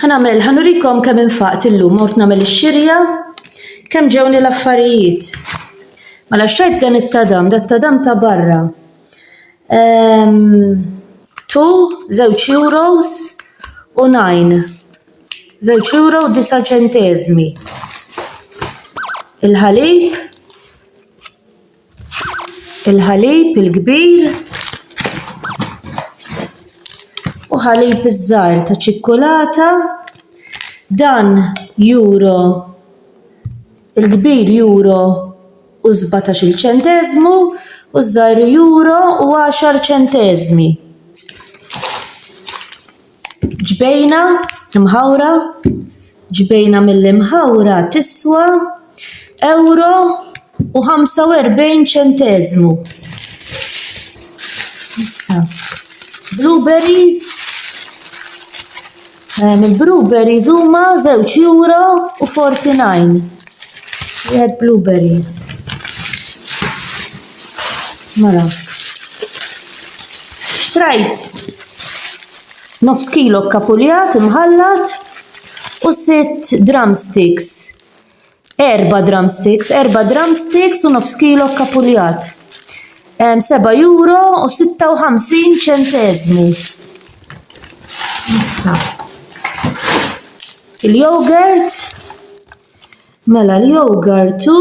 Ħanamel, ħanurikom kemm infaqt illum, mort namel ix-xirja, kemm ġewni l-affarijiet. Mela xtrajt dan it-tadam, dat tadam ta' barra. Ehm, tu, żewġ euros u najn. Żewġ euro u disa ċentezmi. Il-ħalib, il-ħalib il-kbir u ħalib iż-żgħar ta' ċikkulata. Dan juro il-kbir juro u sbatax-il ċenteżmu u ż-żgħar juro u għaxar ċenteżmi. ġbejna mħawra, ġbejna mill-imħawra tiswa euro u 45 ċenteżmu. Issa, blueberries, eh, mill-blueberries huma 2 euro u 49. Wieħed blueberries. Mela. Xtrajt nofs kilo kapuljat imħallat u sitt drumsticks. Erba drumsticks, erba drumsticks u nofs kilo kapuljat. 7 euro u 56 ċentezmu. Issa. Il-yogurt. Mela l-yogurt u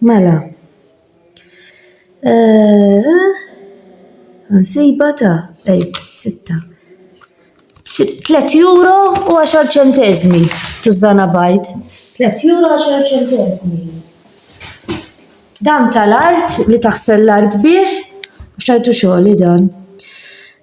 Mela. Nsiba ta' ej, sitta. Tlet euro u għaxar ċentezmi, tużana bajt. Tlet euro u għaxar ċentezmi. Dan tal-art li taħsel l-art bih, xajtu xogħli dan.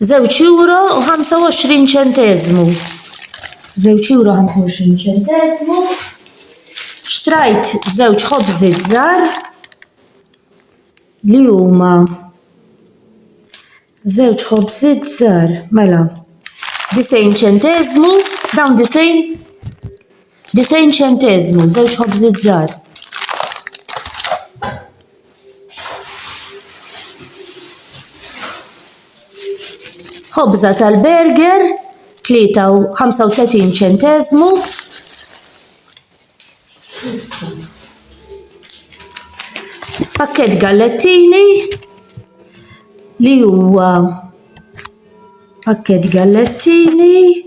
Żewġ euro u 25 ċenteżmu. Żewġ euro 25 ċenteżmu. Xtrajt żewġ ħobżiet żgħar li huma żewġ ħobżiet żgħar mela 90 ċenteżmu dawn 90 Disejn ċenteżmu, żewġ ħobżiet żgħar. Ħobża tal-burger 35 ċentezmu. Pakket gallettini li huwa pakket gallettini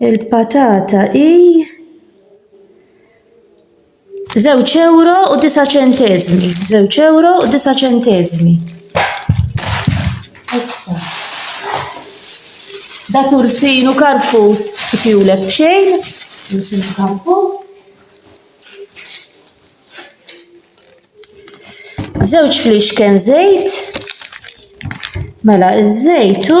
Il-patata hi żewġ euro u disa' ċenteżmi. Żewġ euro u disa' ċenteżmi. Issa. Da tursin u karfus kifjulek b'xejn. Tursin u karfus. Żewġ flixken żejt. Mela, iż-żejtu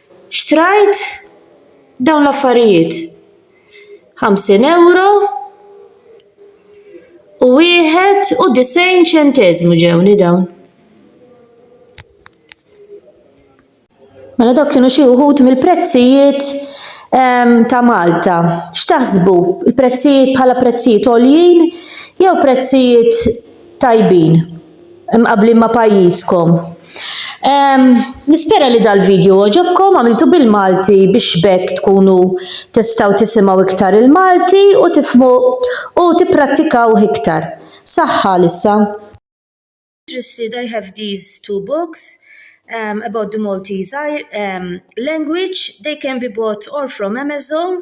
Xtrajt dawn l-affarijiet. 50 euro u wieħed u disgħin ċenteżmu ġewni dawn. Mela dawk kienu xi wħud mill-prezzijiet ehm, ta' Malta. X'taħsbu? Il-prezzijiet bħala prezzijiet għoljin jew prezzijiet tajbin? mqabblin ma' pajjiżkom. Ehm, nispera li dal-video għoġobkom għamiltu bil-Malti biex b'hekk tkunu tistgħu tisimgħu iktar il-Malti u tifhmu u tipprattikawh iktar. Saħħa għalissa! interested, I have these two books um, about the Maltese um, language. They can be bought or from Amazon